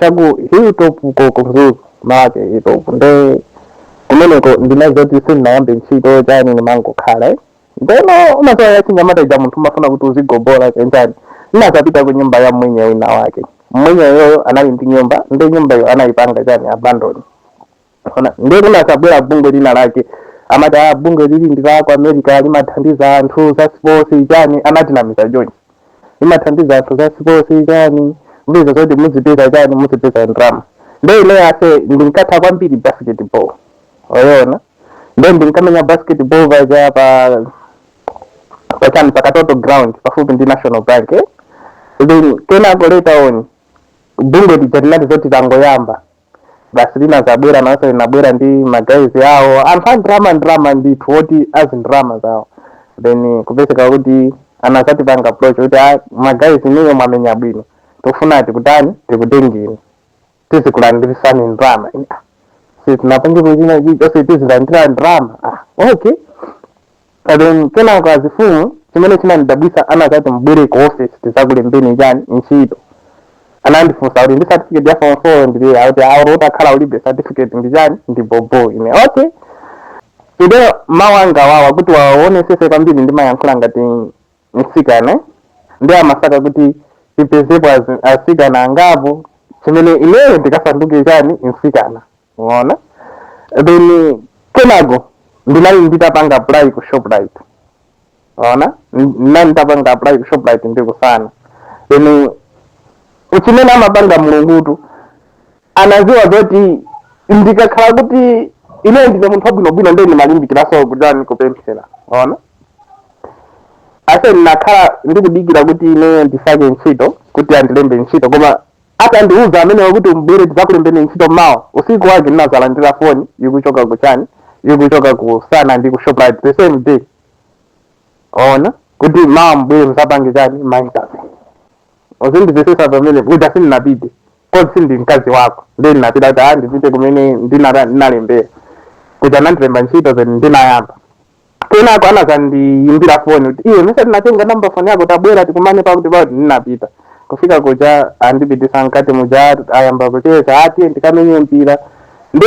cha ku hilltop uko ku Mzuzu mwake hilltop nde kumeneko ndinali zoti sindinayambe ntchito chani ndimangokhala eh. ndeno umadziwa zachinyamata ija munthu umafuna kuti uzigobola kenjani ndinazapita ku nyumba ya mwenye wina wake mwenye iyeyo anali ndi nyumba nde nyumbayo anayipanga chani abandoni Ona, ndiye kunazabwera bungwe lina lake amati bungwe lili ndi la ku america limathandiza anthu za sports chani anatinamiza chonchi limathandiza anthu za sports chani mbiza zoti muzipeza chani muzipeza ndrama nde ine ase ndinkatha kwambiri basketball waona nde ndinkamenya basketball paja pa pachani pa katoto ground pafupi ndi national bank eh? then kenako later on bungwe lija linati zoti tangoyamba basi linazabwera naso linabwera ndi magaizi awo anthu a ndrama ndrama ndithu oti azi ndrama zawo then kupezeka kuti anazatipanga approach kuti "Ah, magaizi inuyo mwamenya bwino tikufuna tikutani tikutengeni tizikulandirisani ndrama sitinapange kuchina chichose tizilandira ndrama ah, okay then kenako azifumu chimene chinandidabwisa anazati mubwere ku office tizakulembeni chani ntchito anandifusa kuti ndi certificate ya form 4 ndilibe akuti ayi olo utakhala ulibe certificate ndi chani ndi bhobho ine okay ndiye mawu anga awawa kuti waonesese kwambiri ndimayankhula ngati mtsikana eh? nde amasaka kuti apezepo azi- atsikana angapo chimene ineyo ndikasanduke chani mtsikana Unaona? Then kenako ndinali nditapanga apply ku Shoprite. Unaona? Ndinali nditapanga apply ku Shoprite ndi ku Sana. Then chimene amapanga mulungutu anaziwa zoti ndikakhala kuti ine ndine munthu wabwinobwino nde ndimalimbikiraso kutani kupemphera ona ase ndinakhala ndikudikira kuti ine ndisake ntchito kuti andilembe ntchito koma Atandiuza amenewo kuti mubwere tidzakulembeni ntchito mawa, usiku wake ndinadzalandira foni ikuchoka ku chani, ikuchoka ku Sana ndi ku Shoprite the same day. Waona? Kuti mawa mubwere mudzapange chani ma interview. Uzindipepesa pamene kuja sindinapite. Kodi sindi mkazi wako. Ndiye ndinapita kuti ah ndipite kumene ndinara- ndinalembera. Kuja anandilemba ntchito then ndinayamba. kenako anazandiyimbira foni kuti iwe mesa tinatenga namba foni yako tabwera tikumane pakuti pakuti ndinapita kufika kuja andipitisa mkati muja ayamba kucheza ati ndikamenye mpira nde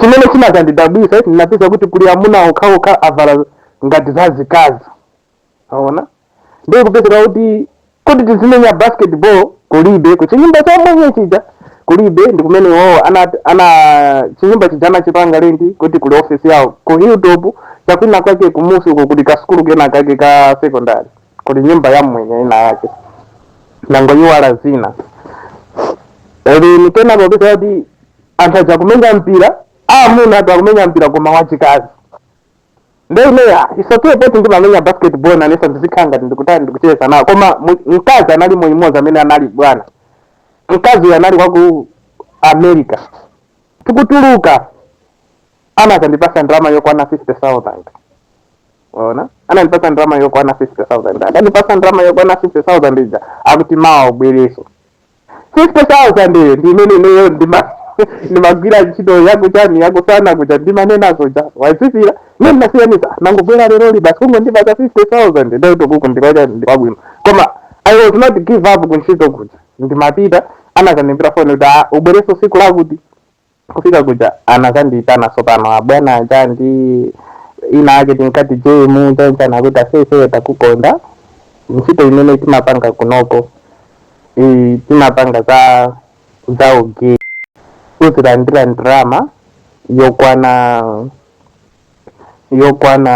chimene chinazandidabwisa kuti ndinapeza kuti kuli amuna okhaokha avala ngati zazikazi aona ndiye kupezeka kuti kuti tizimenya basketball kulibe ku chinyumba cha mmwenye chija kulibe ndi kumene iwowo ana, ana chinyumba chija anachipanga lendi kuti kuli ofesi yawo ku hilltop chakwina kwake kumusi uko kuli kasukulu kena kake ka secondary kuli nyumba ya mmwenye ina yake nangoiwala zina ndiyeno kupeza kuti anthu aja kumenya mpira amuna ati akumenya mpira koma wachikazi nde ine ya it's okay poti ndimamenya basketball nanenso ndizikhala ngati ndikutali ndikucheza nawo koma mu- mkazi anali mmodzi amene anali bwana mkazi uyu anali wa ku america tikutuluka anazandipasa ndalama yokwana 50000 ona anandipasa ndalama yokwana 50000 atandipasa ndalama yokwana 50000 ija akuti mawa ubwereso 50,000 iyo ndi imene ineyo ndima ndimagwira ntchito yakuchani yakumasana kuja ndimanenazo ja wazizira ine ndinasiyanisa nangobwera lero li basi kungondipasa 50,000 ndati okuku ndikuchani ndikwabwino koma i was not give up kuntchito kuja ndimapita anazandimbira foni kuti "Ah, ubwereso siku lakuti kufika kuja anazandiyitana tsopano abwana aja ndi wina wake tinkati jemu choncho anakuti ase iweyo takukonda ntchito imene timapanga kunoko timapanga za za ugay uzilandira ndalama yokwana yokwana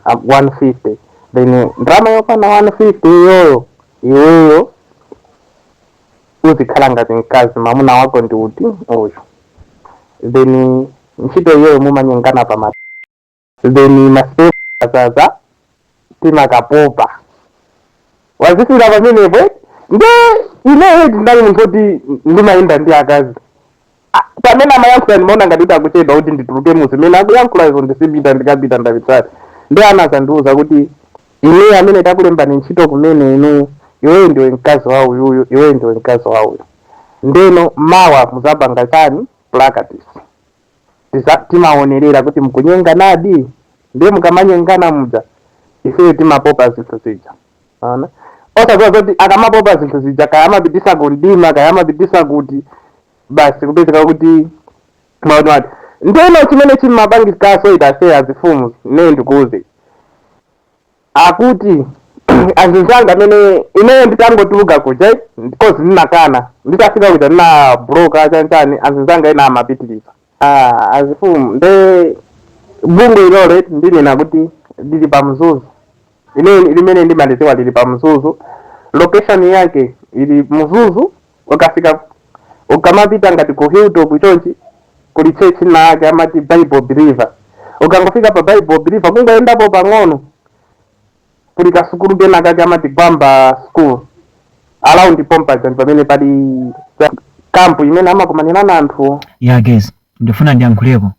ah, 150 then ndalama yokwana 150 iyoyo iweyo uzikhala ngati mkazi mamuna wako ndi uti uyu then ntchito iyoyo mumanyengana pamathen masperm azaza timakapopa wazizira pamenepo eh? nde ineyo ndinali munthu oti ndimayenda ndi akazi pamene amayankhula ndimaona ngati kuti akuchedwa kuti ndituluke mu zimene akuyankhulazo ndizipita ndikapita ndapitali ndi ana azandiuza kuti inuyo amene takulembani ntchito kumene inu iweyo ndiwe mkazi wa uyuyu iweyo ndiwe mkazi wa uyu ndeno mawa muzapanga chani practice Tiza- timaonerera kuti mukunyenganadi ndiye mukamanyengana muja ifeyo timapopa zinthu zija Ona. Osadziwa zoti akamapopa zinthu zija kaya amapitisa ku mdima kaya amapitisa kuti basi kupezeka kuti maona wati. Ndeno chimene chimapangikaso itafe azifumu ine ndikuuze. Akuti azizanga amene ineyo nditangotuluka kuja because ndinakana nditafika kuja ndinabloka chanchani azizanga ena amapitiriza. Ah, azifumu nde bungwe ilolo ndinena kuti lili pa mzuzu ine limene ndimalidziwa lili pa mzuzu location yake ili mzuzu ukafika ukamapita ngati ku hilltop chonchi kuli church ina yake amati bible believer ukangofika pa bible believer kungoyendapo pang'ono kuli kasukulu kena kake amati gwamba school around pompaja ndipamene pali kampu imene amakumanirana anthuwo ya guys ndikufuna ndiyankhuleko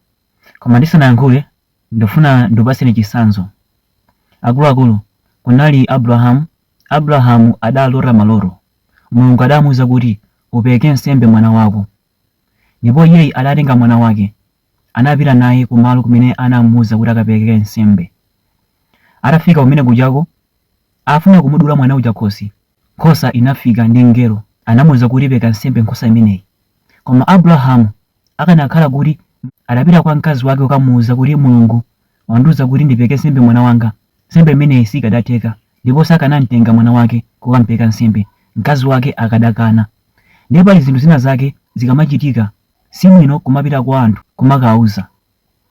koma ndisanayankhule ndikufuna ndikupaseni chisanzo akuluakulu kunali abrahamu abrahamu adalota maloto mulungu adamuuza kuti upereke nsembe mwana wako ndipo iyeyi adatenga mwana wake Anapita naye ku malo kumene anamuuza kuti akapereke nsembe. Atafika kumene kujako, afuna kumudula mwana uja khosi, nkhosa inafika ndi mngelo anamuuza kuti pereka nsembe nkhosa imeneyi. Koma Abulahamu akanakhala kuti adapita kwa mkazi wake kukamuuza kuti Mulungu wandiuza kuti ndipereke nsembe mwana wanga, nsembe imeneyi sikadatheka ndipo sakanamtenga mwana wake kukampereka nsembe, mkazi wake akadakana. Ndiye pali zinthu zina zake zikamachitika Si bwino kumapita kwa anthu kumakawauza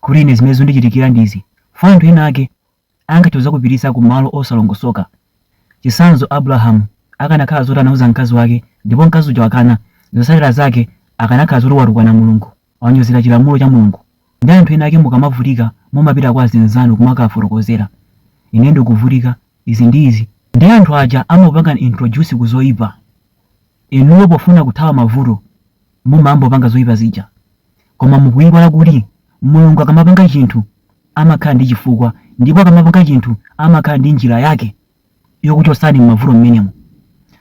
kuti ine zimene zundichitikira ndi izi chifukwa anthu ena ake angathe kuzakupitisa ku malo osalongosoka. Chisanzo Abulahamu akanakhala zoti anauza mkazi wake ndipo mkazi uja wakana, zosatira zake akanakhala zoti watukwana Mulungu, wanyozera chilamulo cha Mulungu. Ndi anthu ena ake mukamavutika mumapita kwa azinzanu kumakawafotokozera ine ndikuvutika izi ndi izi. Ndiye anthu aja amakupangani introduce ku zoipa. Inuyo pofuna kuthawa mavuto mumangopanga zoipa zija koma mukuiwala kuti Mulungu akamapanga chinthu amakhala ndi chifukwa ndipo akamapanga chinthu amakhala ndi njira yake yokuchotsani m'mavuto mmenemo.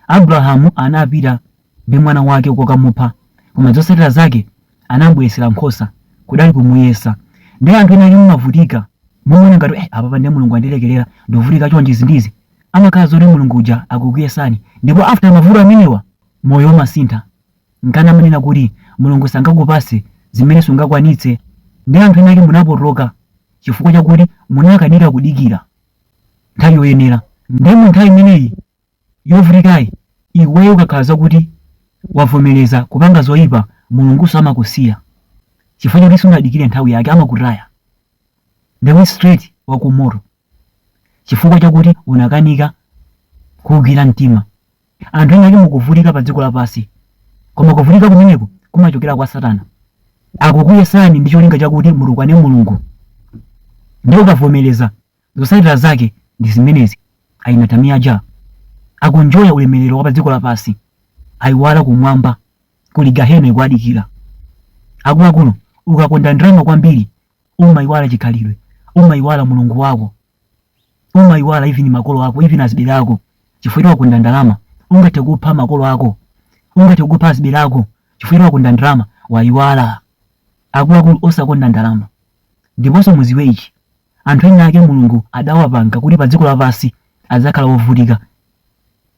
Abrahamu anapita ndi mwana wake kukamupha koma zotsatira zake anamubweretsera nkhosa kudali kumuyesa ndi anthu ena ake mumavutika mumaona ngati eh, apapa ndiye mulungu andilekerera ndikuvutika chonchi izi ndizi amakhala zoti mulungu uja akukuyesani ndipo after mavuto amenewa moyo umasintha Nkana amanena kuti Mulungu sangakupatse zimene sungakwanitse nde anthu enake munapotoka chifukwa chakuti munakanika kudikira nthawi yoyenera nde mu nthawi imeneyi yovutikayi iweyo ukakhala zakuti wavomereza kupanga zoipa Mulunguso amakusiya chifukwa choti sunadikire nthawi yake amakutaya ndewe straight wakumoto chifukwa chakuti unakanika kuugwira mtima. Anthu ena ake mukuvutika pa dziko lapansi, koma kuvutika kumeneko kumachokera kwa Satana. Akukuyesani ndi cholinga chakuti mutukwane Mulungu. Ndiye ukavomereza, zotsatira zake ndi zimenezi. Ainatamia Jah akunjoya ulemerero wa pa dziko lapansi, aiwala kumwamba kuli Gahena ikuwadikira. Akuluakulu, ukakonda ndalama kwambiri umaiwala chikhalidwe, umaiwala Mulungu wako. umayiwala even makolo ako even azibale ako chifukwa choti wakonda ndalama ungathe kupha makolo ako ungathe kupha azibale ako chifukwa choti wakonda ndalama wayiwala akuluakulu osakonda ndalama ndiponso muziwe ichi anthu ena ake mulungu adawapanga kuti pa dziko lapansi adzakhala wovutika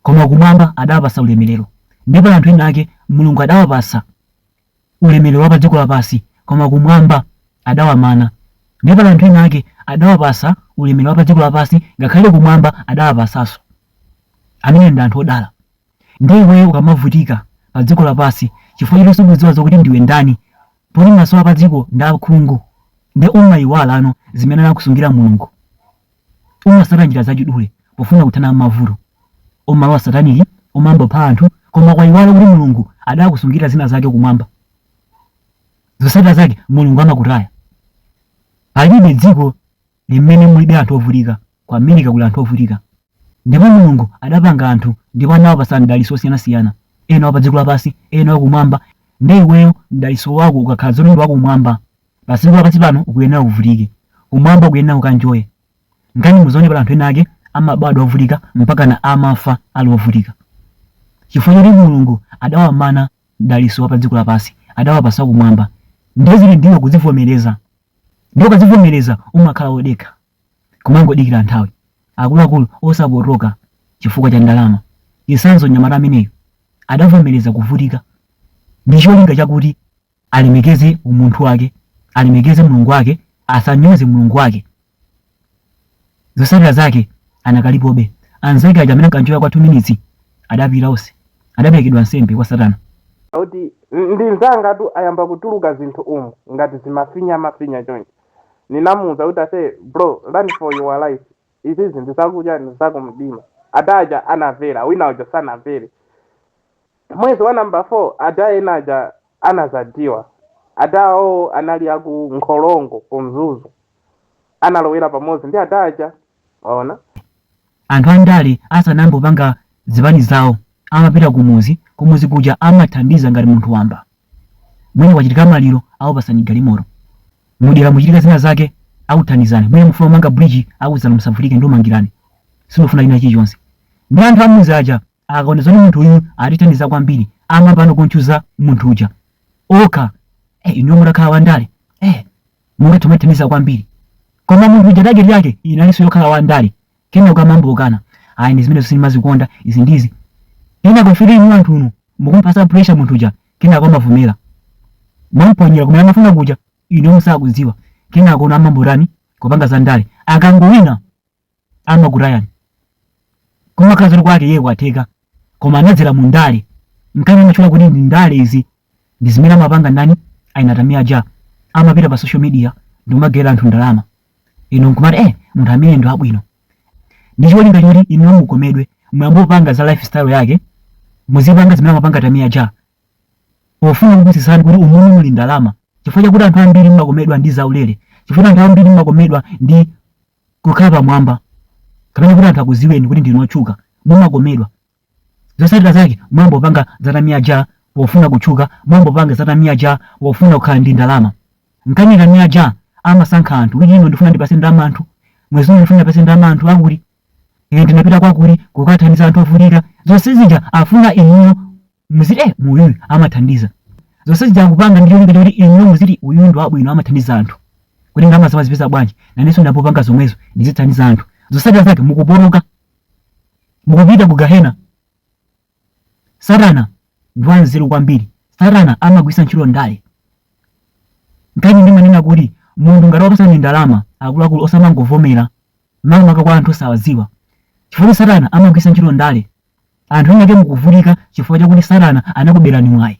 koma kumwamba adawapasa ulemerero ndipo anthu ena ake mulungu adawapasa ulemerero wa pa dziko lapansi, koma kumwamba adawamana. Ndiye pali anthu ena ake adawapasa ulemerero wa pa dziko lapansi, ngakhale kumwamba adawapasanso. Amene ndi anthu odala. Ndiye iweyo ukamavutika pa dziko lapansi chifukwa choti sukudziwa zokuti ndiwe ndani, poti maso ako pa dziko ndi akhungu, ndiye umayiwalano zimene anakusungira Mulungu. umasata njira zachidule pofuna kuthana mavuto umalowa sataniki umayamba kupha anthu koma kwaiwala kuti mulungu adakusungira zina zake kumwamba zosatira zake mulungu amakutaya palibe dziko limene mulibe anthu ovutika ku america kuli anthu ovutika ndipo mulungu adapanga anthu ndipo anawapasa mdaliso osiyanasiyana ena wa pa dziko lapansi ena wakumwamba nde iweyo mdaliso wako ukakhala zoti ndi wakumwamba Padziko lapansi pano ukuyenera uvutike, kumwamba ukuyenera ukanjoye. Nkana muzaona pali anthu ena ake amabadwa ovutika mpakana amafa ali ovutika. Chifukwa choti Mulungu adawamana mdalitso wa padziko lapansi, adawapatsa wakumwamba. Ndiye zili ndiwe kuzivomereza. Ndiye ukazivomereza umakhala wodekha. Kumangodikira nthawi. Akuluakulu osapotoka chifukwa cha ndalama. Chitsanzo mnyamata ameneyu adavomereza kuvutika ndi cholinga chakuti alemekeze umunthu wake, alemekeze mulungu wake, asanyoze mulungu wake. Zotsatira zake anakalipobe. Anzake aja amene ankanjoya kwa 2 minutes adapita onse, adaperekedwa nsembe kwa Satana. kuti ndi nzanga tu ayamba kutuluka zinthu umu ngati zimafinya mafinya chonchi ninamuuza kuti ase bro run for your life izi ndi zakudya ndi zakumdima adaja anavera wina uja sanavere Mwezi wa number 4 ada ena aja anazadiwa adawo anali aku nkholongo ku mzuzu analowera pamodzi ndi ada aja waona anthu andale asanayambe kupanga zipani zawo amapita kumuzi kumuzi kuja amathandiza ngati munthu wamba mwina kwachitika maliro akupasani galimoto mudera muchitika zina zake akuthandizani mwina mufuna kumanga bridge akuuzani musavutike ndikumangirani sindifuna china chilichonse ndi anthu amuzi aja akaona zoti munthu uyu atithandiza kwambiri amapanga kunchuza munthu uja oo eh, inu mutakhala wandale eh, mungathe mutithandiza kwambiri koma munthu uja tageti yake inalinso yokhala wandale kenako kumamukana ayi ndi zimene sindimazikonda izi mudziwa ine kufika inu anthu uno mukumpasa pressure munthu uja kenako amavomera mwamponyera kumene amafuna kuja inu musakudziwa kenako amayamba ntani kupanga za ndale akangowina amakutayani kumakhala zoti kwake iye kwatheka koma anadzera mu ndale nkani amatchula kuti ndi ndale izi ndi zimene amapanga ndani a Tamiya aja amapita pa social media ndi kumagawira anthu ndalama inu nkumati eh munthu ameneyu ndi wabwino ndi cholinga choti inu mukomedwe muyambe kupanga za lifestyle yake muzipanga zimene amapanga tamiya aja pofuna kukutsimikizirani kuti umumu muli ndalama chifukwa chakuti anthu ambiri mmakomedwa ndi zaulere chifukwa anthu ambiri mmakomedwa ndi kukhala pamwamba kapena kuti anthu akuziweni kuti ndinu otchuka mumakomedwa zotsatira zake mwayamba kupanga za Tamia uja pofuna kutchuka mwayamba kupanga za Tamia uja pofuna kukhala ndi ndalama nkani Tamia uja amasankha anthu kuti ine ndifuna ndipase ndalama anthu mwezi uno ndifuna ndipase ndalama anthu akuti ine ndinapita kwakuti kukathandiza anthu ovutika zonse zija afuna inuyo muziti eh uyuyu amathandiza zonse zija akupanga ndi cholinga choti inuyo muziti uyu ndi wabwino amathandiza anthu kodi ndalamazi amazipeza bwanji nanenso ndiyambe kupanga zomwezo ndizithandiza anthu zotsatira zake mukupuluka mukupita ku gahena satana ndi wanzeru kwambiri satana amagwiritsa ntchito ndale nkani ndimanena kuti munthu ngati wakupatsani ndalama akuluakulu osamangovomera makamaka kwa anthu osawadziwa chifukwa satana amagwiritsa ntchito ndale Anthu ena ake mukuvutika chifukwa chakuti Satana anakuberani mwayi.